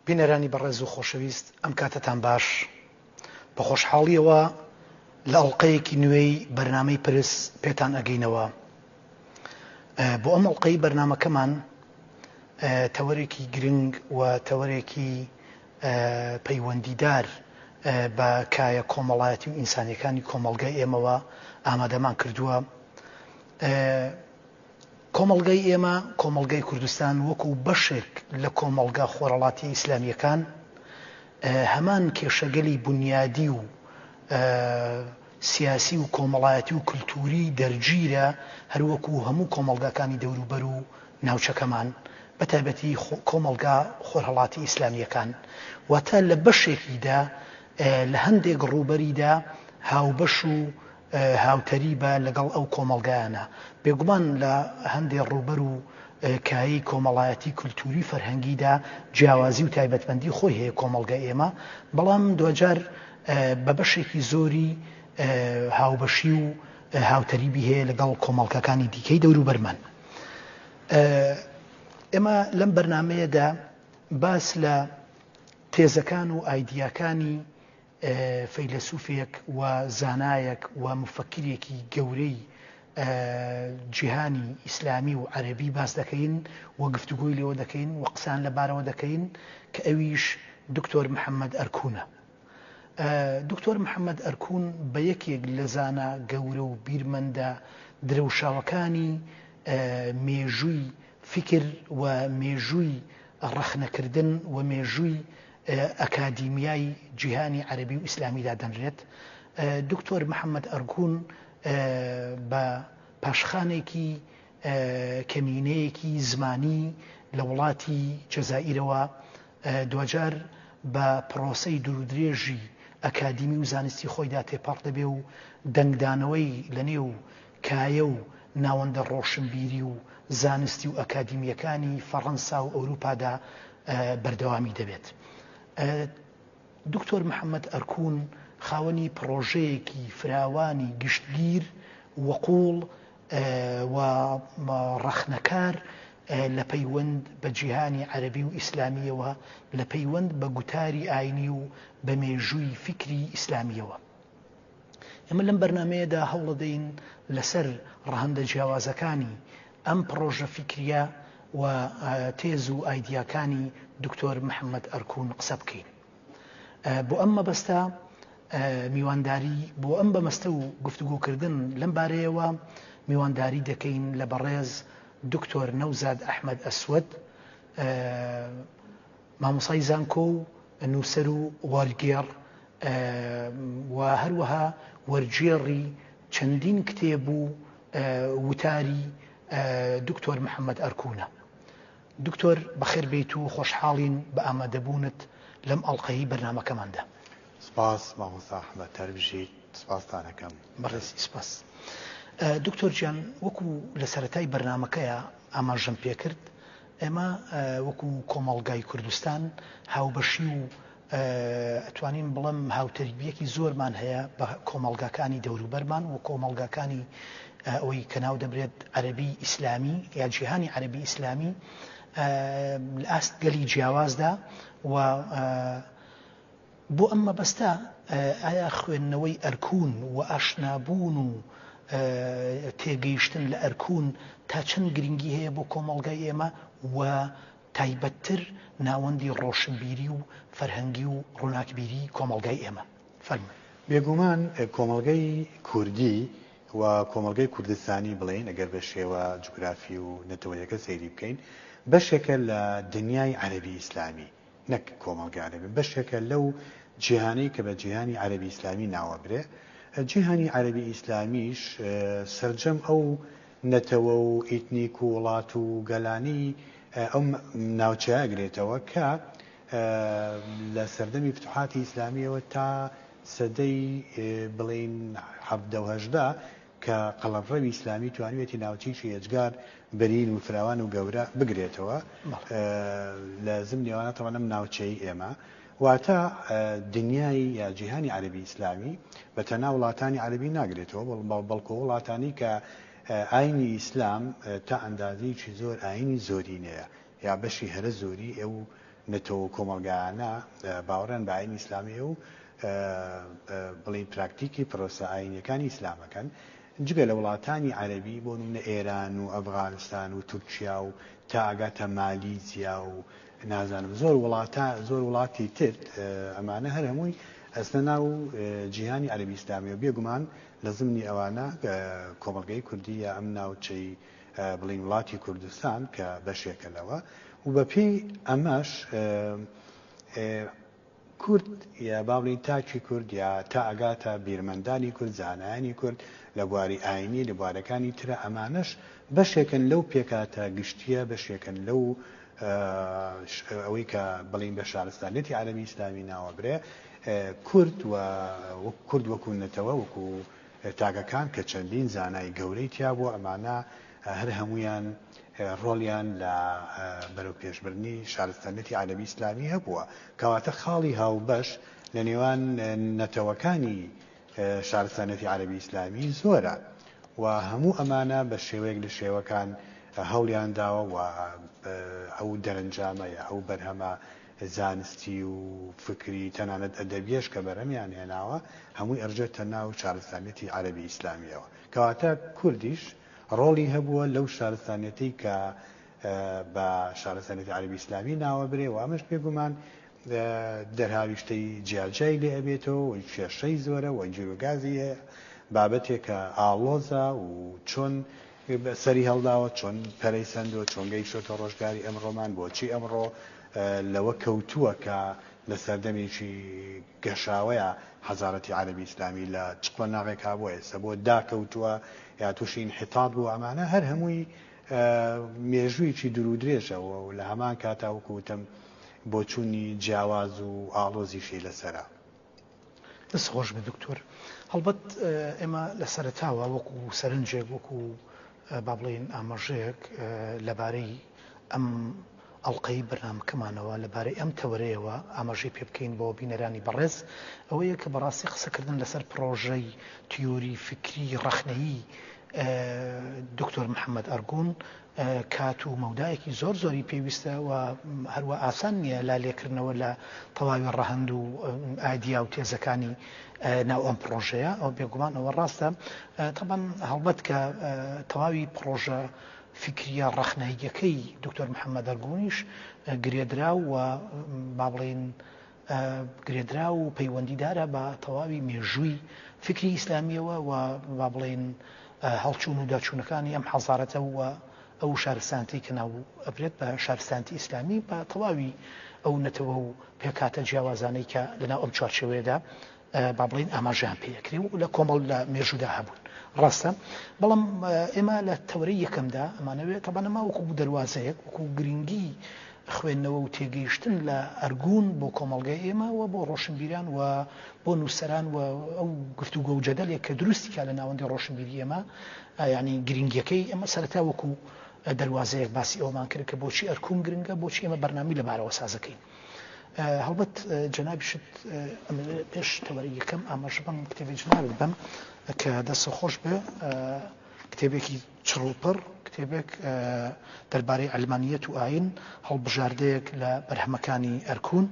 بینەرانی بەڕێز و خۆشەویست ئەم کاتەتان باش بە خۆشحاڵیەوە لە ئەڵلقەیەکی نوێی بەرنمەی پرس پێتان ئەگەینەوە بۆ ئەم ئەڵلقەی بەرنمەکەمان تەوەرێکی گرنگ و تەوەرێکی پەیوەندیدار بە کایە کۆمەڵایەتی و ئینسانیەکانی کۆمەڵگای ئێمەوە ئامادەمان کردووە. کۆمەڵگای ئێمە، کۆمەڵگای کوردستان وەکو بەشێک لە کۆمەڵگا خۆرەڵاتیە ئیسلامیەکان هەمان کێشەگەلی بونیادی و، سیاسی و کۆمەڵایەتی و کلتووری دەرگیرە، هەر وەکوو هەموو کۆمەڵگاکانی دەوروبەر و ناوچەکەمان، بە تایبەتی کۆمەڵگا خۆرهەڵاتی ئیسلامییەکان. واتە لە بەشێکیدا، لە هەندێک ڕووبەریدا هاوبەش و هاوتەریبە لەگەڵ ئەو کۆمەڵگایانە. بێگومان لە هەندێ ڕووبەر و کایەی کۆمەڵایەتی، کلتووری و فەرهەنگیدا جیاوازی و تایبەتمەندی خۆی هەیە کۆمەڵگای ئێمە، بەڵام دواجار، بە بەشێکی زۆری هاوبەشی و هاوتەریبی هەیە لەگەڵ کۆمەڵکەکانی دیکەی دەوروبەرمان. ئێمە لەم بەرنمەیەدا باس لە تێزەکان و ئایدیاکانی فەیلەسوفێک و زانایەک و مفەکرێکی گەورەی جیهانی ئیسلامی و عەربی باس دەکەین و گفتوگۆی لێوە دەکەین و قسان لەبارەوە دەکەین کە ئەویش دکتۆر محەممەد ئەرکونە. دکتۆر محەمەد ئەرکون بە یەکێک لە زانا گەورە و بیرمەندە درەوشاوەکانی مێژووی فیکر و مێژووی ڕەخنەکردن و مێژووی ئەکادیمیای جیهانی عەرەبی و ئیسلامی دادەنرێت. دکتۆر محەمەد ئەرکون بە پاشخانێکی کەمینەیەکی زمانی لە وڵاتی جەزائیرەوە دواجار بە پڕۆسەی دوورودرێژی ئەکادیمی و زانستی خۆیدا تێپەڕ دەبێ و دەنگدانەوەی لە نێو کایە و ناوەندە ڕۆشنبیری و زانستی و ئەکادیمییەکانی فەڕەنسا و ئەوروپادا بەردەوامی دەبێت. دکتۆر محەمەد ئەرکون خاوەنی پڕۆژەیەکی فراوانی گشتگیر و قووڵ و ڕەخنەکار لە پەیوەند بە جیهانی عەرەبی و ئیسلامییەوە، لە پەیوەند بە گوتاری ئاینی و بە مێژووی فیکری ئیسلامییەوە. ئێمە لەم بەرنامەیەدا هەوڵەدەین لەسەر ڕەهەندە جیاوازەکانی ئەم پڕۆژە فیکرییە و تێز و ئایدیاکانی دکتۆر محەمەد ئەرکون قسە بکەین. بۆ ئەم مەبەستە میوانداری بۆ ئەم بەمەستە و گفتوگۆکردن لەم بارەیەوە میوانداری دەکەین لە بەڕێز دکتۆر نەوزاد ئەحمەد ئەسوەد مامۆسای زانکۆ و نووسەر و وەرگێڕ و هەروەها وەرگێڕی چەندین کتێب و وتاری دکتۆر محەممەد ئەرکونە دکتۆر بەخێر بێیت و خۆشحاڵین بە ئامادەبوونت لەم ئەڵقەی بەرنامەکەماندا. سپاس مامۆستا احمد هەربژیت سپاستان ئەکەم. بەڕێزی سپاس. دکتۆر گیان وەکو لە سەرەتای بەرنامەکەیا ئاماژەم پێکرد ئێمە وەکو کۆمەڵگای کوردستان هاوبەشی و ئەتوانین بڵێم هاوتەریبیەکی زۆرمان هەیە بە کۆمەڵگاکانی دەوروبەرمان و کۆمەڵگاکانی ئەوەی کە ناو دەبرێت عەرەبی ئیسلامی یا جیهانی عەرەبی ئیسلامی لە ئاست گەلی جیاوازدا و بۆ ئەم مەبەستە ئایا خوێندنەوەی ئەرکون و ئاشنابوون و تێگەیشتن لە ئەرکون تا چەند گرنگی هەیە بۆ کۆمەڵگای ئێمە و تایبەتتر ناوەندی ڕۆشنبیری و فەرهەنگی و ڕووناکبیری کۆمەڵگای ئێمە. فەرموو. بێگومان کۆمەڵگەی کوردی و کۆمەڵگەی کوردستانی بڵێین ئەگەر بە شێوە جوگرافی و نەتەوەیەکە سەیری بکەین بەشێکە لە دنیای عەرەبی ئیسلامی نەک کۆمەڵگەی عەرەبی بەشێکە لەو جیهانەی کە بە جیهانی عەرەبی ئیسلامی ناوەبرێ جیهانی عەرەبی ئیسلامیش سەرجەم ئەو نەتەوە و ئیتنیک و وڵات و گەلانی ئەم ناوچەیە گرێتەوە کە لە سەردەمی فتوحاتی ئیسلامییەوە تا سەدەی بڵێین حەڤدە و هەژدە کە قەڵەڤڕەوی ئیسلامی توانیوێتی ناوچەیەکی ئێجگار بەرین و فراوان و گەورە بگرێتەوە لە زمنی ئەوانە تەوان ئەم ناوچەی ئێمە واتە دنیای یا جیهانی عەرەبی ئیسلامی بە تەنها وڵاتانی عەرەبی ناگرێتەوە، بەڵکۆ ئەو وڵاتانەی کە ئاینی ئیسلام تا ئەندازەیەکی زۆر ئاینی زۆرینەیە یا بەشی هەرە زۆری ئەو نەتەوە و کۆمەڵگایانە باوەڕیان بە ئاینی ئیسلامی هەیە و بڵێین پراکتیکی پرۆسە ئاینیەکانی ئیسلام ئەکەن، جگە لە وڵاتانی عەرەبی بۆ نمونە ئێران و ئەفغانستان و تورکیا و تا ئەگاتە مالیزیا و نازانم زۆر وڵاتە زۆر وڵاتی تر ئەمانە هەر هەمووی ئەستە ناو جیهانی عەربی ئیسلامیەوە بێگومان لە زمنی ئەوانە کۆمەلگەی کوردی یا ئەم ناوچەی بڵین وڵاتی کوردستان کە بەشێکە لەوە و بەپێی ئەمەش کورد یا با بڵێین تاکی کورد یا تا ئەگاتە بیرمەندانی کورد، زانایانی کورد لە بواری ئاینی، لە بوارەکانی ترا ئەمانەش بەشێکن لەو پێکهاتە گشتییە، بەشێکن لەو ئەوەی کە بڵێین بە شارستانیەتی عەرەبی ئیسلامی ناوەبرێ کورد و کورد وەکوو نەتەوە وەکوو تاکەکان کە چەندین زانای گەورەی تیا بووە ئەمانە هەر هەموویان ڕۆڵیان لە بەرەوپێشبردنی شارستانیەتی عەرەبی ئیسلامی هەبووە، کەواتە خاڵی هاوبەش لە نێوان نەتەوەکانی شارستانیەتی عەرەبی ئیسلامی زۆرە و هەموو ئەمانە بە شێوەیەک لە شێوەکان هەوڵیان داوە و ئەو دەرەنجامە یا ئەو بەرهەمە زانستی و فکری تەنانەت ئەدەبیەش کە بەرهەمیان هێناوە هەمووی ئەڕژێتە ناو شارستانیەتی عەرەبی ئیسلامیەوە کەواتە کوردیش ڕۆڵی هەبووە لەو شارستانیەتەی کە بە شارستانیەتی عەرەبی ئیسلامی ناوەبرێ و ئەمەش بێگومان دەرهاویشتەی جیاجیای لێ ئەبێتەوە و کێشەی زۆرە و گیروگازی هەیە، بابەتێکە ئاڵۆزە و چۆن سەری هەڵداوە، چۆن پەرەی سەندووە، چۆن گەیشتۆتە ڕۆژگاری ئەمڕۆمان، بۆچی ئەمڕۆ لەوە کەوتووە کە لە سەردەمێکی گەشاوەیا حەزارەتی عەرەبی ئیسلامی لە چ قۆناغێکا بۆ ئێستا بۆ داکەوتووە، یا تووشی ئینحیتات بوو، ئەمانە هەر هەمووی مێژوویەکی دوور و درێژە و لە هەمان کاتا وەکو وتم بۆچوونی جیاواز و ئاڵۆزیشی لەسەرە. دەست خۆش بێ دکتۆر. هەڵبەت ئێمە لە سەرەتاوە وەکو سەرنجێک وەکو با بڵێین ئاماژەیەک لەبارەی ئەم ئەڵقەی بەرنامەکەمانەوە لەبارەی ئەم تەوەرەیەوە ئاماژەی پێ بکەین بۆ بینەرانی بەڕێز، ئەوەیە کە بەڕاستی قسەکردن لەسەر پڕۆژەی تیۆری فیکری ڕەخنەیی دکتۆر محەمەد ئەرگون کات و مەودایەکی زۆر زۆری پێویستە و هەروا ئاسان نییە لالێکردنەوە لە تەواوی ڕەهەند و ئایدیا و تێزەکانی ناو ئەم پڕۆژەیە ئەو بێگومان ئەوە ڕاستە تەبەن هەڵبەت کە تەواوی پڕۆژە فیکریە ڕەخنەییەکەی دکتۆر محەمەد ئەرگونیش گرێدراو و با بڵێین گرێدراو و پەیوەندیدارە بە تەواوی مێژووی فیکری ئیسلامیەوە و با بڵێین هەڵچوون و داچوونەکانی ئەم حەزارەتە و ئەو شارستانتی کە ناو ئەبرێت بە شارستانتی ئیسلامی بە تەواوی ئەو نەتەوە و پێکاتە جیاوازانەی کە لەناو ئەم چوارچێوەیەدا با بڵێین ئاماژەیان پێ ئەکرێ و لە کۆمەڵ لە مێژوودا هەبوون ڕاستە بەڵام ئێمە لە تەورەی یەکەمدا ئەمانەوێت تەبانەما وەکو دەواازەیەک وەکو گرنگی خوێندنەوە و تێگەیشتن لە ئەرگون بۆ کۆمەلگای ئێمە و بۆ ڕۆشنبیران و بۆ نووسەران و ئەو گفتوگۆ و جەدەلێک کە دروستیکە لە ناوەندی ڕۆشنبیری ئێمە ینی گرنگیەکەی ئەمە سەرتا وەکو دەواازەیەک باسی ئەومان کرد کە بۆچی ئەرکوم گرنگە بۆچی ئێمە بەرنامی لەبارەوە سازەکەین هەڵبەت جەنابیشت پێش تەوەری یەکەم ئاماژە بەم کتێبی جنابت بم کە دەسە خۆش بێ کتێبێکی چڕوپڕ کتێبێک دەربارەی ئەلمانیەت و ئاین هەڵبژاردەیەک لە بەرهەمەکانی ئەرکون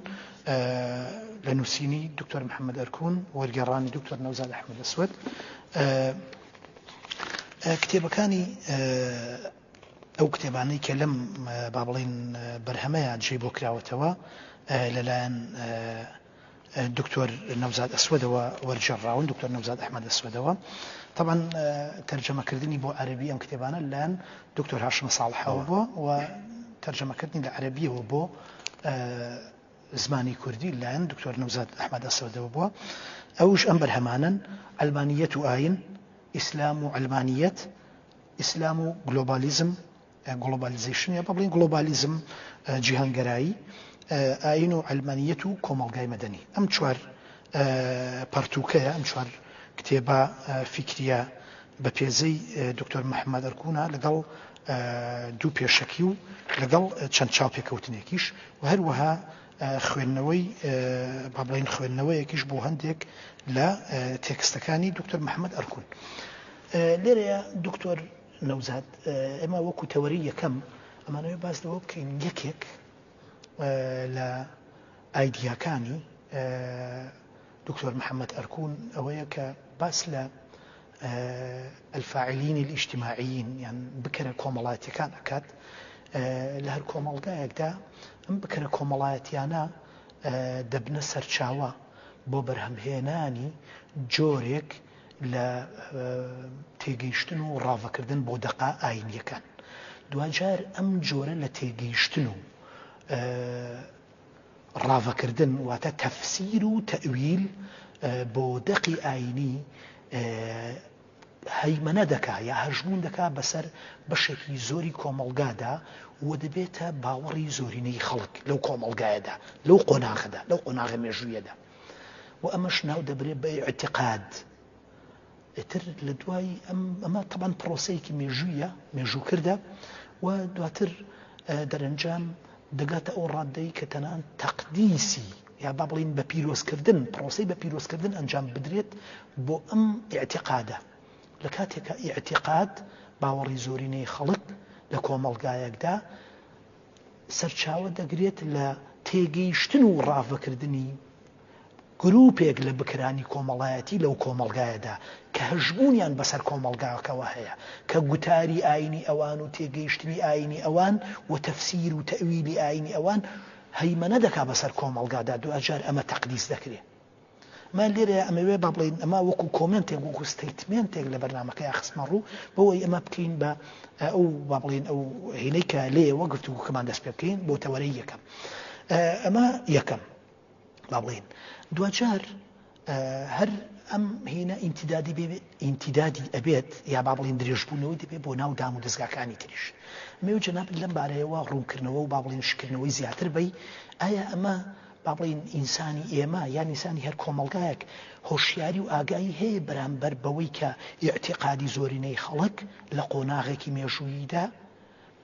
لە نووسینی دکتۆر محەممەد ئەرکون وەرگێڕانی دکتۆر نەوزاد ئەحمد لەسوەت کتێبەکانی ئەو کتێبانەی کە لەم با بڵێین بەرهەمەیە جێی بۆ کراوەتەوە لەلایەن دکتۆر نەوزاد ئەسوەدەوە وەرجێڕراون دکتۆر نەوزاد ئەحمەد ئەسوەدەوە تەبەن تەرجەمەکردنی بۆ عەربی ئەم کتێبانە لەن دکتۆر هاشم ساڵحەوە بووە و تەرجەمەکردنی لە عەربیەوە بۆ زمانی کوردی لایەن دکتۆر نەوزاد ئەحمد ئەسەدەوە بووە ئەوش ئەم بەرهەمانن ئەلمانیەت و ئاین ئیسلام و ئەلمانیەت ئیسلام و گلۆبالیزم، Globalization، یان با بڵێین گڵۆبالیزم، جیهانگەرایی، ئایین و عەلمانییەت و کۆمەڵگای مەدەنی. ئەم چوار پەڕتووکەیە، ئەم چوار کتێبە فیکرییە بە پێزەی دکتۆر محەممەد ئەرکونا لەگەڵ دوو پێشەکی و لەگەڵ چەند چاوپێکەوتنێکیش و هەروەها خوێندنەوەی با بڵێین خوێندنەوەیەکیش بۆ هەندێک لە تێکستەکانی دکتۆر محەممەد ئەرکون، لێرەیا دکتۆر نەوزاد ئێمە وەکو تەوەری یەکەم ئەمانەوەی باس لەوە بکەین یەکێک لە ئایدیاکانی دکتۆر محەممەد ئەرکون ئەوەیە کە باس لە ئەلفاعلینی ئیشتیماعیین یان بکەرە کۆمەڵاتیەکان ئەکات لە هەر کۆمەڵگایەکدا ئەم بکەرە کۆمەڵایەتیانە دەبنە سەرچاوە بۆ بەرهەمهێنانی جۆرێک لە تێگەیشتن و ڕاڤەکردن بۆ دەقە ئایینییەکان. دواجار ئەم جۆرە لە تێگەیشتن و ڕاڤەکردن واتە تەفسیر و تەئویل بۆ دەقی ئایینی هەیمەنە دەکا یا هەژمون دەکا بەسەر بەشێکی زۆری کۆمەڵگادا و دەبێتە باوەڕی زۆرینەی خەڵک لەو کۆمەڵگایەدا لەو قۆناغەدا لەو قۆناغە مێژوویەدا و ئەمەش ناو دەبرێت بە ئیعتیقاد ئیتر لە دوای ئەمە تەبەن پرۆسەیەکی مێژوویە مێژوو کردە و دواتر دەرەنجام دەگاتە ئەو ڕاددەی کە تەنان تەقدیسی یا با بڵین بە پیرۆزکردن پرۆسی بە پیرۆزکردن ئەنجام بدرێت بۆ ئەم ئاعتقادە لە کاتێکە ئاعتقاد باوەڕی زۆرینەی خەڵک لە کۆمەڵگایەکدا سەرچاوە دەگرێت لە تێگەیشتن و ڕاڤەکردنی گرووپێک لە بکەرانی کۆمەڵایەتی لەو کۆمەڵگایەدا کە هەژموونیان بەسەر کۆمەڵگاکەوە هەیە کە گوتاری ئایینی ئەوان و تێگەیشتنی ئایینی ئەوان و تەفسیر و تەئویلی ئایینی ئەوان هەیمەنە دەکات بەسەر کۆمەڵگادا دواجار ئەمە تەقدیس دەکرێت من لێرەیا ئەمەوێ با بڵێین ئەمە وەکو کۆمنتێک وەکو ستەیتمێنتێک لە بەرنمەکەیان خستمە ڕوو بۆەوەی ئەمە بکەین بە ئەو با بڵێن ئەو هینەی کە لێ وەگرت و کەمان دەست پێ بکەین بۆ تەوەرەی یەکەم ئەمە یەکەم با بڵێن دوجار هەر ئەم هینە ئینتیدادی بێ ئینتیدادی ئەبێت یا با بڵین درێژبوونەوەی دەبێت بۆ ناو دام و دەستگاکانی تریش مێو جەناب لەم بارەیەوە ڕوونکردنەوە و با بڵین شکردنەوەی زیاتر بی ئایا ئەمە با بڵێین ئینسانی ئێمە یان ئینسانی هەر کۆمەڵگایەک هۆشیاری و ئاگایی هەیە بەرامبەر بەوەی کە ئیعتیقادی زۆرینەی خەڵک لە قۆناغێکی مێژووییدا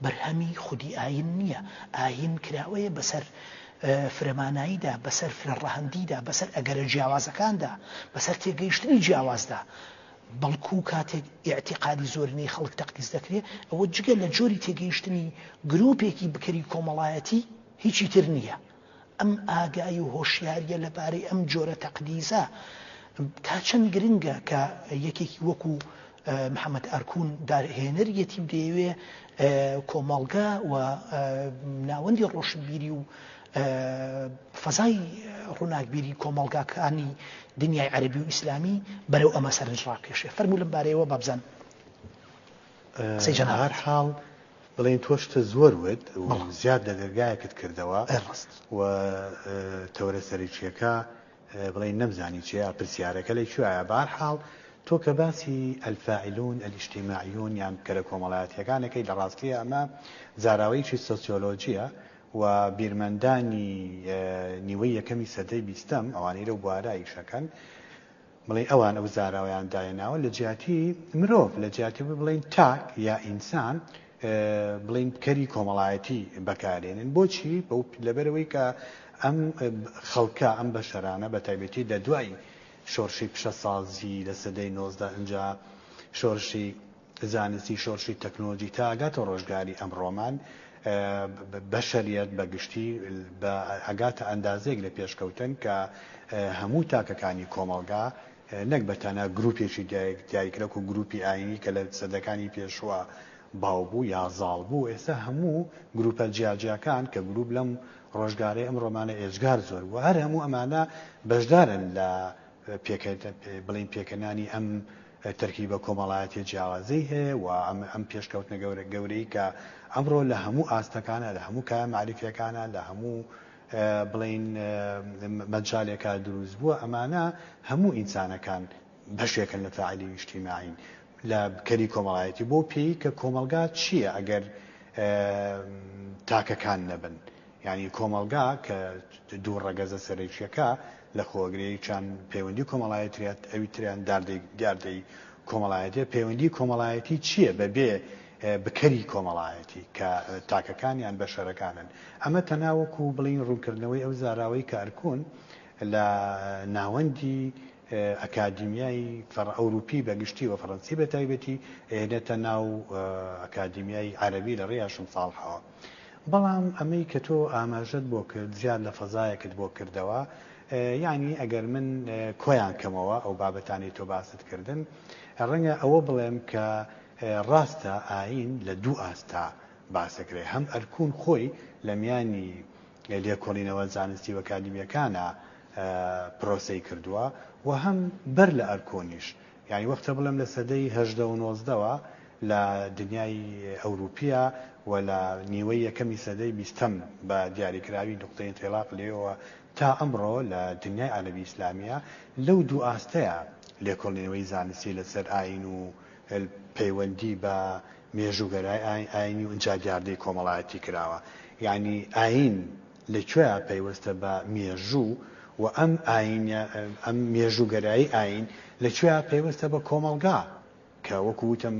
بەرهەمی خودی ئایین نییە، ئایین کراوەیە بەسەر فرەماناییدا، بەسەر فرەڕەهەندیدا، بەسەر ئەگەرە جیاوازەکاندا، بەسەر تێگەیشتنی جیاوازدا، بەڵکوو کاتێک ئیعتیقادی زۆرینەی خەڵک تەقدیس دەکرێ، ئەوە جگە لە جۆری تێگەیشتنی گرووپێکی بکەری کۆمەڵایەتی هیچی تر نییە. ئەم ئاگایی و هۆشیارییە لەبارەی ئەم جۆرە تەقدیسە تا چەند گرنگە کە یەکێکی وەکو محەمەد ئارکون داهێنەریەتی و دەیەوێ کۆمەڵگە و ناوەندی ڕۆشنبیری و فەزای ڕووناکبیری کۆمەڵگاکانی دنیای عەرەبی و ئیسلامی بەرەو ئەمە سەرنج ڕابکێشێ فەرموو لەم بارەیەوە بابزان. قسەی جەنابت. بەهەر حاڵ بڵێین تۆ شتە زۆر وت و زیاد لە دەرگایەکت کردەوە و تەوەرە سەرەکییەکە بڵێین نەمزانی چییە، پرسیارەکە لە کوێیە. بەهەر حاڵ تۆ کە باسی الفاعلون الاجتماعیون یان بکەرە کۆمەڵایەتییەکان ئەکەی لە ڕاستییا ئەمە زاراوەیەکی سۆسیۆلۆژییە و بیرمەندانی نیوەی یەکەمی سەدەی بیستەم ئەوانەی لەو بوارە ئیش ئەکەن، بڵێی ئەوان ئەو زاراوەیان داهێناوە لە جیاتی مرۆڤ، لە جیاتی ئەوەی بڵێین تاک یا ئینسان بڵێین کەری کۆمەڵایەتی بەکارێنن، بۆچی؟ لەبەرئەوەی کە ئەم خەڵکە، ئەم بەشەرانە بە تایبەتی لە دوای شۆڕشی پیشەسازی لە سەدەی نۆزدە ئینجا شۆرشی زانستی شۆرشی تەکنۆلۆجی تا ئەگاتە ڕۆژگاری ئەمڕۆمان بەشەریەت بە گشتی ئەگاتە ئەندازەیەک لە پێشکەوتن کە هەموو تاکەکانی کۆمەڵگا نەک بە تەنها گروپێکی دایکرەک و گروپی ئاینی کە لە سەدەکانی پێشوە باو بوو یا زاڵ بوو ئێستا هەموو گروپە جیاجیاکان کە گروپ لەم ڕۆژگارەی ئەم ڕۆمانە ئێجگار زۆر بوو هەر هەموو ئەمانە بەشدارن لە پێکە بڵین پێکەنانی ئەم تەرکیبە کۆمەڵایەتیە جیاوازەی هەیە و ئەم پێشکەوتنە گەورەی کە ئەمڕۆ لە هەموو ئاستەکانا، لە هەموو کایە مەعریفیەکانا، لە هەموو بڵێین مەجالێکا دروست بووە، ئەمانە هەموو ئینسانەکان بەشێکن لە فاعلی ئیجتیماعین، لە کەری کۆمەڵایەتی، بەو پێی کە کۆمەڵگا چیە ئەگەر تاکەکان نەبن؟ یانی کۆمەڵگا کە دوو ڕەگەزە سەرەکیەکە لەخۆگرێیچان پەیوەندی کۆمەڵایەتریەت ئەوی تریان داردەی دیاردەی کۆمەڵایەتیە پەیوەندی کۆمەڵایەتی چیە بە بێ بکەری کۆمەڵایەتی کە تاکەکان یان بەشەرەکانن ئەمە تەنها وەکو بڵین ڕونکردنەوەی ئەو زاراوەی کە ئەرکون لە ناوەندی ئەکادیمیای فەڕ ئەوروپی بە گشتی وە فەڕەنسی بە تایبەتی ئەیەنێتە ناو ئەکادیمیای عەرەبی لە ڕێی هاشم ساڵحەوە. بەڵام ئەمەی کە تۆ ئاماژەت بۆ کرد زیاد لە فەزایەکت بۆ کردەوە یانی ئەگەر من کۆیان کەمەوە ئەو بابەتانەی تۆ باست کردن ڕەنگە ئەوە بڵێم کە ڕاستە ئاین لە دوو ئاستا باسەکرێ هەم ئەرکون خۆی لە میانی لێکۆڵینەوە زانستی و ئەکادیمیەکانە پرۆسەی کردووە و هەم بەر لە ئەرکۆنیش یانی وەختە بڵێم لە سەدەی هەژدە و نۆزدەوە لە دنیای ئەوروپیە و لە نیوەی یەکەمی سەدەی بیستەم بە دیاریکراوی نوقتەی ئینتیڵاق لێیەوە تا ئەمڕۆ لە دنیای عەرەبی ئیسلامیە لەو دوو ئاستەیە لێکۆڵینەوەی زانستی لەسەر ئاین و پەیوەندی بە مێژووگەرای ئاین ئاینی و ئینجا دیاردەی کۆمەڵایەتی کراوە یانی ئاین لە کوێیا پەیوەستە بە مێژوو و ئەم ئاینە ئەم مێژووگەرایی ئاین لە کوێیا پەیوەستە بە کۆمەڵگا کە وەکو وتم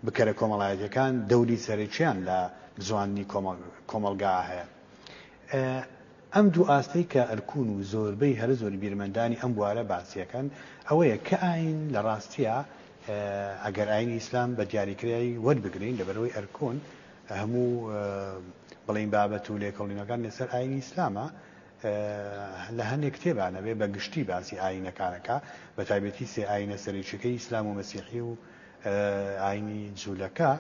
بکەرە کۆمەڵایەتیەکان دەوری سەرەکیان لە بزواندنی کۆمەڵ کۆمەڵگا هەیە. ئەم دوو ئاستەی کە ئەلکون و زۆربەی هەرە زۆری بیرمەندانی ئەم بوارە باسیەکەن ئەوەیە کە ئاین لە ڕاستیا ئەگەر ئاینی ئیسلام بە دیاریکرای وەربگرین لەبەرئەوەی ئەلکون هەموو بڵێین بابەت و لێکەوڵینەکان لەسەر ئاینی ئیسلامە لە هەندێک کتێبانەبێ بە گشتی باسی ئاینەکانەکە بە تایبەتی سێ ئاینە سەرێکیەکەی ئیسلام و مەسیحی و ئاینی جولەکە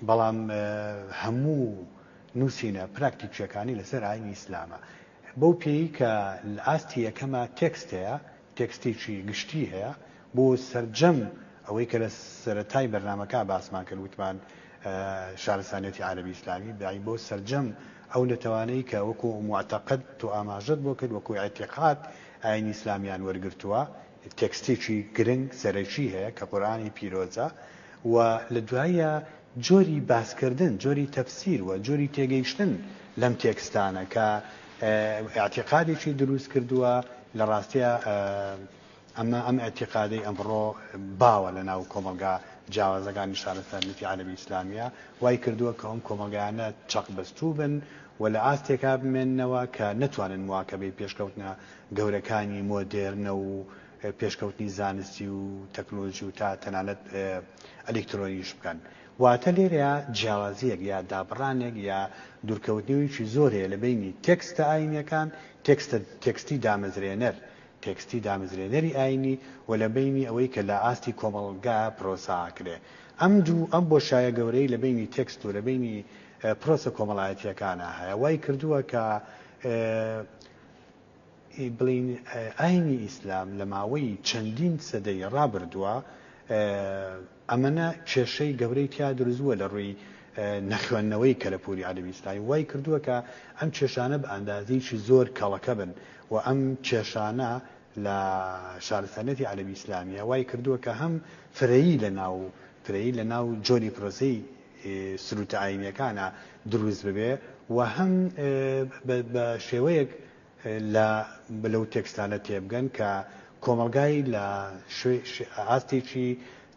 بەڵام هەموو نووسینە پراکتیکییەکانی لەسەر ئایینی ئیسلامە، بەو پێیی کە لە ئاستی یەکەما تێکست هەیە، تێکستێکی گشتی هەیە بۆ سەرجەم ئەوەی کە لە سەرەتای بەرنامەکە باسمان کرد وتمان شارستانییەتی عەرەبی ئیسلامی، یانی بۆ سەرجەم ئەو نەتەوانەی کە وەکوو موعتەقەد تۆ ئاماژەت بۆ کرد، وەکوو ئیعتیقاد ئایینی ئیسلامیان وەرگرتووە، تێکستێکی گرنگ سەرەکی هەیە کە قورئانی پیرۆزە و لە دواییە جۆری باسکردن، جۆری تەفسیر و جۆری تێگەیشتن لەم تێکستانە کە ئیعتیقادێکی دروست کردووە، لە ڕاستیا ئەمە ئەم ئیعتیقادەی ئەمڕۆ باوە لە ناو کۆمەڵگا جیاوازەکانی شارستانیەتی عەرەبی ئیسلامییە وای کردووە کە ئەم کۆمەڵگایانە چەقبەستوو بن و لە ئاستێکا بمێننەوە کە نەتوانن مواکەبەی پێشکەوتنە گەورەکانی مۆدێرنە و پێشکەوتنی زانستی و تەکنۆلۆژی و تا تەنانەت ئەلیکترۆنیش بکەن. واتە لێرەیا جیاوازییەک یا دابڕانێک یا دوورکەوتنیویی زۆر هەیە لە بەینی تێکستە ئایینییەکان، تێکستە تێکستی دامەزرێنەر، تێکستی دامەزرێنەری ئایینی و لە بەینی ئەوەی کە لە ئاستی کۆمەڵگا پرۆسە ئاکرێ. ئەم دوو، ئەم بۆشایە گەورەی لە بەینی تێکست و لە بەینی پرۆسە کۆمەڵایەتییەکانا هەیە، وای کردووە کە بڵێین ئاینی ئیسلام لە ماوەی چەندین سەدەی ڕابردووە ئەمەنە کێشەی گەورەی تیا دروستبووە لە ڕووی نەخوێندنەوەی کەلەپوری عەلەمی ئیسلامی وای کردووە کە ئەم کێشانە بە ئەندازەیەکی زۆر کەڵەکە بن و ئەم کێشانە لە شارستانیەتی عەلەمی ئیسلامیە وای کردووە کە هەم فرەیی لە ناو فرەیی لە ناو جۆری پرۆسەی سروتە ئاینیەکانە دروست ببێ و هەم بە شێوەیەک لە لەو تێکستانە تێبگەن کە کۆمەڵگای لە ئاستێکی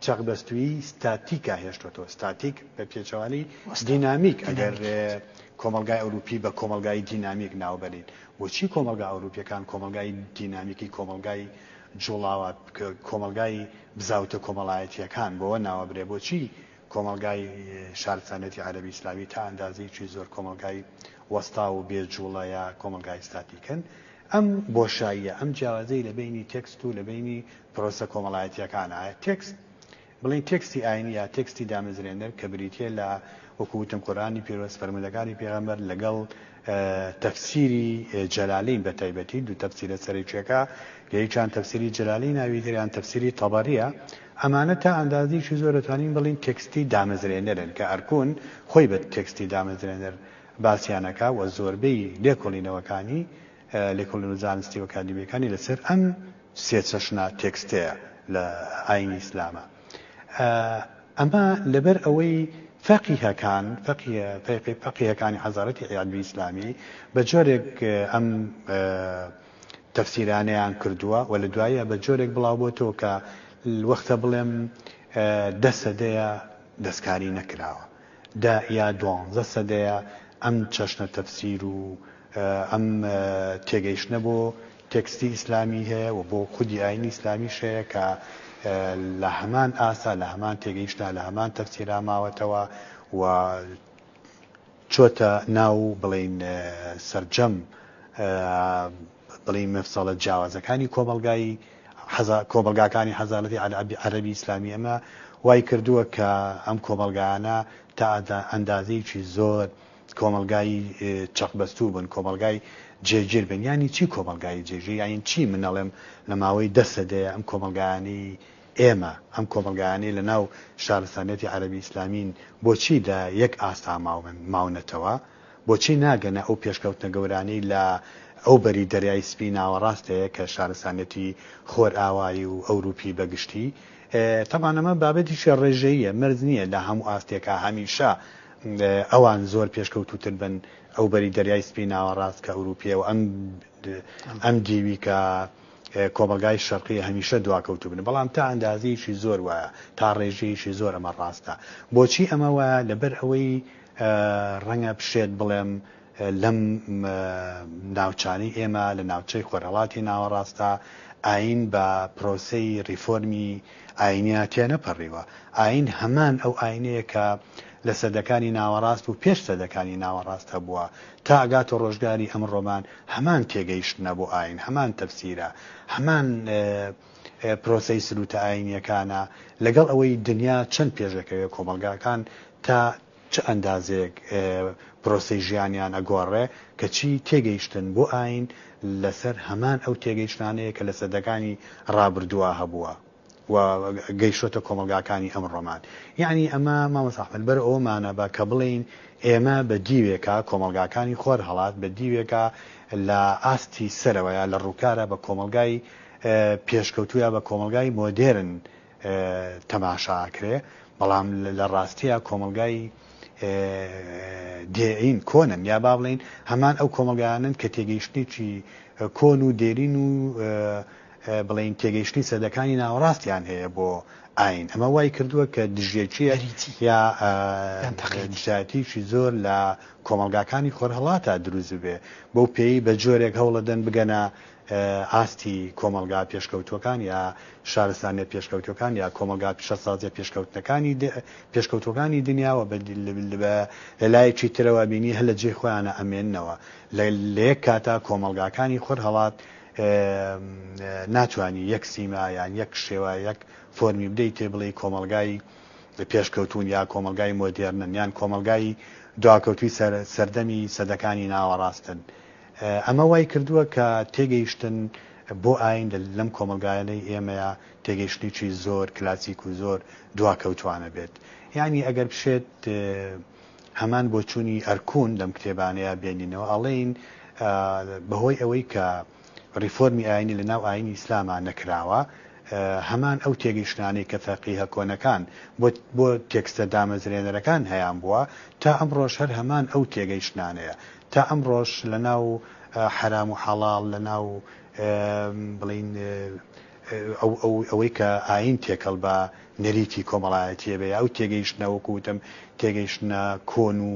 چەقبەستووی ستاتیکا هێشتۆتەوە ستاتیک بە پێچەوانی دینامیک ئەگەر کۆمەلگای ئەوروپی بە کۆمەلگای دینامیک ناوبەرین بۆچی کۆمەلگا ئەوروپیەکان کۆمەلگای دینامیکی کۆمەلگای جوڵاوە کۆمەلگای بزاوتە کۆمەڵایەتیەکان بۆوە ناوەبرێ بۆچی کۆمەڵگای شارستانیەتی عەرەبی ئیسلامی تا ئەندازەیەکی زۆر کۆمەڵگای وەستاو و بێ جووڵە یا کۆمەڵگای ستاتیکن. ئەم بۆشاییە، ئەم جیاوازیەی لە بەینی تێکست و لە بەینی پرۆسە کۆمەڵایەتیەکانە. تێکست، بڵێین تێکستی ئاینی یا تێکستی دامەزرێنەر کە بریتیە لە وەکو وتم قورئانی پیرۆز، فەرموودەکانی پێغەمبەر لەگەڵ، تەفسیری جەلالین بە تایبەتی دوو تەفسیرە سەرەکیەکە لە یەکیان تەفسیری جەلالی ناوی تریان تەفسیری تەبەریە ئەمانە تا ئەندازەیەکی زۆر دەتوانین بڵێین تێکستی دامەزرێنەرن کە ئەرکون خۆی بە تێکستی دامەزرێنەر باسیان ئەکا و زۆربەی لێکۆڵینەوەکانی لێکۆڵینەوە زانستی و ئەکادیمیەکانی لەسەر ئەم سێ چەشنە تێکستەیە لە ئاینی ئیسلامە. ئەمە لەبەر ئەوەی فەقیهەکان، فەقیە، فەیقی، فەقیهەکانی حەزارەتی عیالمی ئیسلامی بە جۆرێک ئەم تەفسیرانەیان کردووە و لە دواییە بە جۆرێک بڵاو بۆتەوە کە وەختە بڵێم دە سەدەیە دەستکاری نەکراوە. دا یا دوانزە سەدەیە ئەم چەشنە تەفسیر و ئەم تێگەیشتنە بۆ تێکستی ئیسلامی هەیە و بۆ خودی ئاینی ئیسلامیش هەیە کە لە هەمان ئاسا لە هەمان تێگەیشتنا لە هەمان تەفسیرا ماوەتەوە و چۆتە ناو بڵێین سەرجەم بڵێی مەفسەڵە جیاوازەکانی کۆمەڵگای حەزا کۆمەڵگاکانی حەزانەتی عەلەبی عەرەبی ئیسلامی ئەمە وای کردووە کە ئەم کۆمەڵگایانە تا ئەدا ئەندازەیەکی زۆر کۆمەڵگای چەقبەستوو بن کۆمەڵگای جێگیر بن یانی چی کۆمەڵگای جێگیر یانی چی من ئەڵێم لە ماوەی دە سەدەیە ئەم کۆمەڵگایانەی ئێمە ئەم کۆمەڵگایانەی لە ناو شارستانیەتی عەرەبی ئیسلامین بۆچی لە یەک ئاستا ماون ماونەتەوە؟ بۆچی ناگەنە ئەو پێشکەوتنە گەورانەی لە ئەو بەری دەریای سپی ناوەڕاست هەیە کە شارستانیەتی خۆرئاوایی و ئەوروپی بە گشتی تەبان ئەمە بابەتیکی ڕێژەییە مەرج نییە لە هەموو ئاستێکا هەمیشە ئەوان زۆر پێشکەوتووتر بن ئەو بەری دەریای سپی ناوەڕاست کە ئەوروپیە و ئەم ئەم دیوی کە کۆمەلگای شەرقی هەمیشە دواکەوتو بن بەڵام تا ئەندازەیەکی زۆر وایە تا ڕێژەیەکی زۆر ئەمە ڕاستە بۆچی ئەمە وایە لەبەر ئەوەی ڕەنگە بشێت بڵێم لەم ناوچانەی ئێمە لە ناوچەی خۆرهەڵاتی ناوەڕاستدا ئایین بە پرۆسەی ڕیفۆرمی ئایینیا تێنەپەڕیوە. ئایین هەمان ئەو ئایینەیە کە لە سەدەکانی ناوەڕاست و پێش سەدەکانی ناوەڕاست هەبووە تا ئەگاتە ڕۆژگاری ئەمڕۆمان هەمان تێگەیشتنە بۆ ئایین، هەمان تەفسیرە، هەمان پرۆسەی سروتە ئاینییەکانە، لەگەڵ ئەوەی دنیا چەند پێش ئەکەوێت کۆمەڵگاکان تا چ ئەندازەیەک پرۆسەی ژیانیان ئەگۆڕێ، کەچی تێگەیشتن بۆ ئاین لەسەر هەمان ئەو تێگەیشتنانەیە کە لە سەدەکانی ڕابردووا هەبووە و گەیشتۆتە کۆمەڵگاکانی ئەمڕۆمان. یەعنی ئەمە مامۆستا ئەحمەد بەر ئەوەمانە بە کە بڵێین ئێمە بە دیوێکا کۆمەڵگاکانی خۆرهەڵات بە دیوێکا لە ئاستی سەرەوەیە لە ڕووکارە بە کۆمەڵگای پێشکەوتوو یا بە کۆمەڵگای مۆدێرن تەماشا ئەکرێ، بەڵام لە ڕاستییا کۆمەڵگای دێرین کۆنن یا با بڵێین هەمان ئەو کۆمەڵگایانەن کە تێگەیشتنێکی کۆن و دێرین و بڵێین تێگەیشتنی سەدەکانی ناوەڕاستیان هەیە بۆ ئاین ئەمە وای کردووە کە دژیەکیە یا دژایەتیکی زۆر لە کۆمەلگاکانی خۆرهڵاتا دروست بێ بەو پێی بە جۆرێک هەوڵەدەن بگەنە ئاستی کۆمەڵگا پێشکەوتووەکان یا شارستانیە پێشکەوتووەکان یا کۆمەڵگا پیشەسازیە پێشکەوتووەکانی دنیا و لە لایەکی ترەوە ئەبینی هەر لە جێی خۆیانە ئەمێننەوە لە یەک کاتا کۆمەڵگاکانی خۆرهەڵات ناتوانی یەک سیما یان یەک شێوە یەک فۆرمی بدەی تێ بڵێی کۆمەڵگای پێشکەوتوون یا کۆمەڵگای مۆدێرنن یان کۆمەڵگای دواکەوتووی سەردەمی سەدەکانی ناوەڕاستن ئەمە وای کردووە کە تێگەیشتن بۆ ئایین لەم کۆمەڵگایەنەی ئێمەیە تێگەیشتنێکی زۆر کلاسیک و زۆر دواکەوتووانە بێت. یانی ئەگەر بشێت هەمان بۆچوونی ئەرکون لەم کتێبانەیا بێنینەوە ئەڵێین بە هۆی ئەوەی کە ڕیفۆرمی ئایینی لە ناو ئایینی ئیسلاما نەکراوە هەمان ئەو تێگەیشتنانەی کە فەقیهە کۆنەکان بۆ تێکستە دامەزرێنەرەکان هەیانبووە تا ئەمڕۆش هەر هەمان ئەو تێگەیشتنانەیە تا ئەمڕۆش لە ناو حەرام و حەڵاڵ، لە ناو بڵێین ئەوەی کە ئایین تێکەڵ بە نەریتی کۆمەڵایەتییە بێ، ئەو تێگەیشتنە وەکوو وتم تێگەیشتنە کۆن و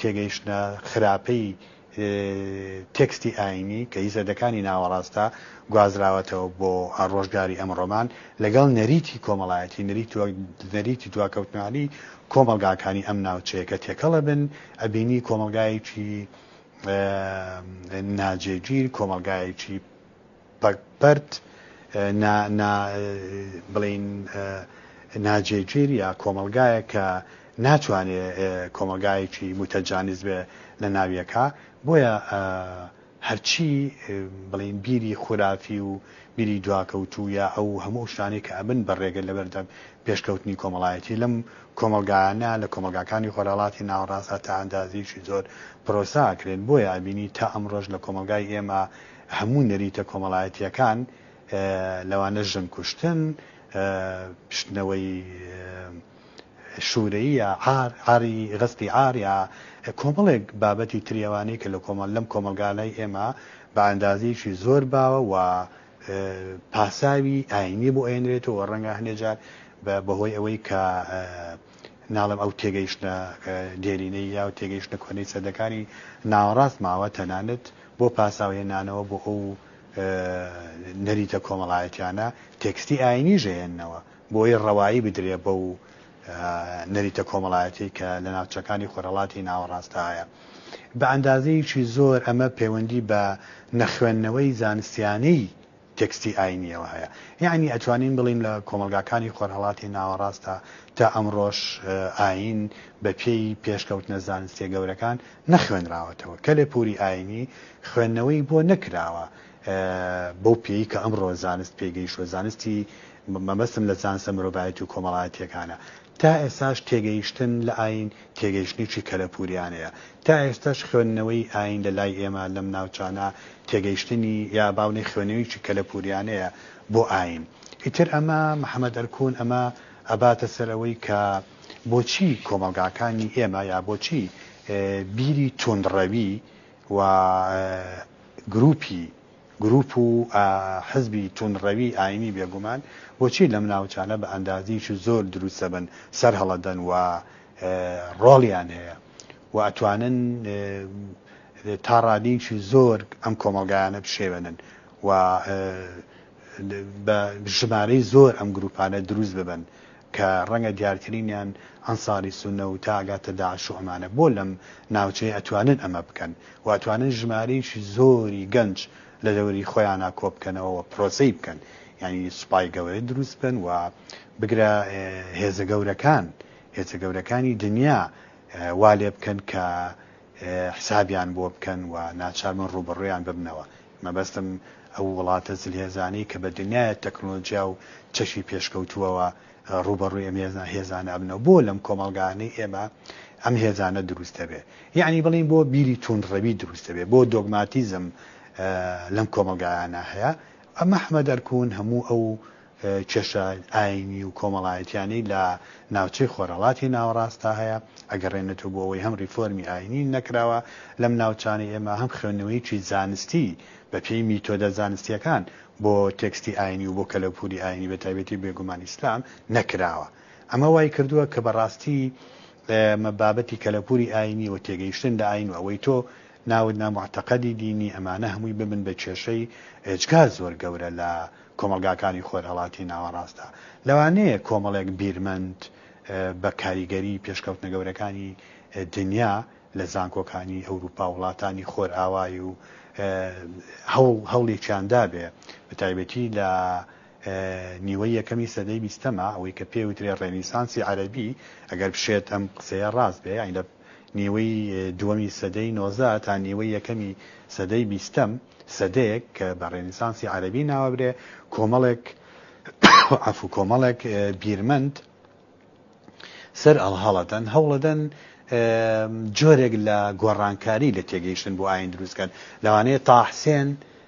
تێگەیشتنە خراپەی تێکستی ئایینی کە هی سەدەکانی ناوەڕاستە گوازراوەتەوە بۆ ڕۆژگاری ئەمڕۆمان لەگەڵ نەریتی کۆمەڵایەتی، نەریتی دواکەوتنانی کۆمەڵگاکانی ئەم ناوچەیە کە تێکەڵە بن، ئەبینی کۆمەڵگایەکی ناجێگیر، کۆمەڵگایەکی پەرت بڵین ناجێگیر یا کۆمەڵگایە کە ناتوانێ کۆمەڵگایەکی متەجانیز بێ لە ناویەکە بۆیە هەرچی بڵێین بیری خورافی و بیری دواکەوتوو یا ئەو هەموو شتانەی کە ئەبن بە ڕێگە لەبەردەم پێشکەوتنی کۆمەڵایەتی لەم کۆمەڵگایانە لە کۆمەڵگاکانی خۆرهەڵاتی ناوەڕاستدا تا ئەندازەیەکی زۆر پرۆسە ئەکرێن بۆیە ئەبینی تا ئەمڕۆش لە کۆمەڵگای ئێمە هەموو نەریتە کۆمەڵایەتییەکان لەوانە ژن کوشتن، شتنەوەی. شورەیی یا عار، عاری غەسبی عار یا کۆمەڵێک بابەتی تری ئەوانەی کە لە کۆمەڵ لەم کۆمەڵگا لای ئێمە بە ئەندازەیەکی زۆر باوە و پاساوی ئاینی بۆ ئەهێنرێتەوە و ڕەنگە هەندێ جار بە بە هۆی ئەوەی کە ناڵێم ئەو تێگەیشتنە دێرینەی یا و تێگەیشتنە کۆنەی سەدەکانی ناوەڕاست ماوە تەنانەت بۆ پاساو هێنانەوە بۆ ئەو نەریتە کۆمەڵایەتیانە تێکستی ئاینیش ئەهێننەوە. بۆیە ڕەوایی بدرێ بەو نەریتە کۆمەڵایەتیەی کە لە ناوچەکانی خۆرهەڵاتی ناوەڕاستدا هەیە. بە ئەندازەیەکی زۆر ئەمە پەیوەندی بە نەخوێندنەوەی زانستیانەی تێکستی ئاینیەوە هەیە. یەعنی ئەتوانین بڵێین لە کۆمەڵگاکانی خۆرهەڵاتی ناوەڕاستدا تا ئەمڕۆش ئاین بە پێی پێشکەوتنە زانستیە گەورەکان نەخوێنراوەتەوە. کەلێ پوری ئاینی خوێندنەوەی بۆ نەکراوە. بەو پێیی کە ئەمڕۆ زانست پێی گەیشتووە، زانستی مەبەستم لە زانستە مرۆڤایەتی و کۆمەڵایەتییەکانە، تا ئێستاش تێگەیشتن لە ئایین تێگەیشتنێکی کەلەپووریانەیە. تا ئێستاش خوێندنەوەی ئایین لە لای ئێمە لەم ناوچانە تێگەیشتنی یا با بڵێین خوێنەوەیەکی کەلەپووریانەیە بۆ ئایین. ئیتر ئەمە محەمەد ئەرکون ئەمە ئەباتە سەر ئەوەی کە بۆچی کۆمەڵگاکانی ئێمە یا بۆچی بیری تووندڕەوی و گروپی گروپ و حزبی توندڕەوی ئاینی بێگومان بۆچی لەم ناوچانە بە ئەندازەیەکی زۆر دروستەبن سەرهەڵەدەن و ڕۆڵیان هەیە و ئەتوانن تا ڕادەیەکی زۆر ئەم کۆمەڵگایانە بشێوێنن و بە ژمارەی زۆر ئەم گروپانە دروست ببن کە ڕەنگە دیارترینیان ئەنساری سونە و تا ئەگاتە داعش و ئەمانە بۆ لەم ناوچەیە ئەتوانن ئەمە بکەن و ئەتوانن ژمارەیەکی زۆری گەنج لە دەوری خۆیانا کۆ بکەنەوە و پرۆسەی بکەن یانی سوپای گەورە دروست بکەن و بگرە هێزە گەورەکان هێزە گەورەکانی دنیا وا لێ بکەن کە حسابیان بۆ بکەن و ناچاربن ڕووبەڕوویان ببنەوە. مەبەستم ئەو وڵاتە زلهێزانەی کە بە دنیایە تەکنۆلۆجیا و چەشی پێشکەوتووەوە ڕووبەڕووی ئەم هێزانە ئەبنەوە. بۆ لەم کۆمەڵگایانەی ئێمە ئەم هێزانە دروست دەبێ؟ یەعنی بڵێین بۆ بیری تووندڕەوی دروست دەبێ، بۆ دۆگماتیزم لەم کۆمەڵگایانە هەیە. مەحمەد ئەرکون هەموو ئەو. کێشە ئاینی و کۆمەڵایەتیانەی لە ناوچەی خۆرهەڵاتی ناوەڕاستدا هەیە، ئەگەڕێنێتەوە بۆ ئەوەی هەم ریفۆرمی ئاینی نەکراوە لەم ناوچانەی ئێمە، هەم خوێندنەوەیەکی زانستی بە پێی میتۆدە زانستییەکان بۆ تێکستی ئاینی و بۆ کەلەپووری ئاینی بە تایبەتی بێگومان ئیسلام نەکراوە. ئەمە وای کردووە کە بە ڕاستی ئێمە بابەتی کەلەپووری ئاینی و تێگەیشتن لە ئاین و ئەوەی تۆ ناوت نا موعتەقەدی دینی ئەمانە هەمووی ببن بە کێشەی ئێجگار زۆر گەورە لە کۆمەڵگاکانی خۆرهەڵاتی ناوەڕاستدا لەوانەیە کۆمەڵێک بیرمەند بە کاریگەری پێشکەوتنە گەورەکانی دنیا لە زانکۆکانی ئەوروپا و وڵاتانی خۆرئاوای و هەوڵێکیان دابێ بە تایبەتی لە نیوەی یەکەمی سەدەی بیستەما ئەوەی کە پێ وترێ ڕێنیسانسی عەرەبی ئەگەر بشێت ئەم قسەیە ڕاست بێ یانی لە نیوەی دووەمی سەدەی نۆزدە تا نیوەی یەکەمی سەدەی بیستەم، سەدەیەک کە بە ڕێنیسانسی عەرەبی ناوەبرێ، کۆمەڵێک عەفو کۆمەڵێک بیرمەند سەر ئەڵهەڵەدەن، هەوڵەدەن جۆرێک لە گۆڕانکاری لە تێگەیشتن بۆ ئایین دروست کەن، لەوانەیە تاحسێن،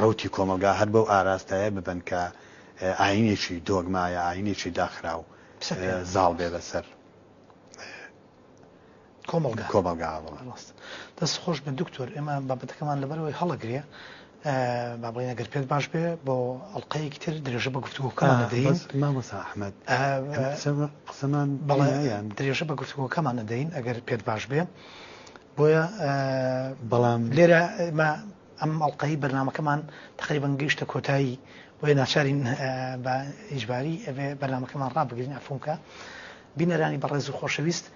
ڕەوتی کۆمەڵگا هەر بەو ئاراستەیە ببن کە ئایینێکی دۆگما یا ئایینێکی داخراو زاڵ بێ بەسەر کۆمەڵگا کۆمەڵگا بڵێ. ڕاستە. دەست خۆش بێت دکتۆر ئێمە بابەتەکەمان لەبەرەوەی هەڵەگرێ با بڵێن ئەگەر پێت باش بێ بۆ ئەڵقەیەکی تر درێژە بە گفتوگۆکەمان دەدەین بەس مامۆستا ئەحمەد قسە- قسەمان بەڵێ یان درێژە بە گفتوگۆکەمان دەدەین ئەگەر پێت باش بێ بۆیە بەڵام لێرە ئێمە ئەم ئەڵقەی بەرنامەکەمان تەقریبەن گەیشتە کۆتایی بۆیە ناچارین بە ئیجباری ئەبێ بەرنامەکەمان ڕابگرین ئەفونکە بینەرانی بەڕێز و خۆشەویست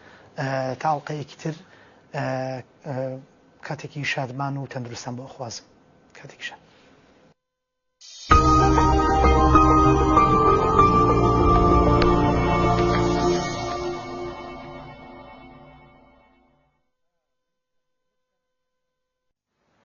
تا ئەڵلقەیەکی تر کاتێکی شادمان و تەندروستان بۆ خوازم کاتێکی شاد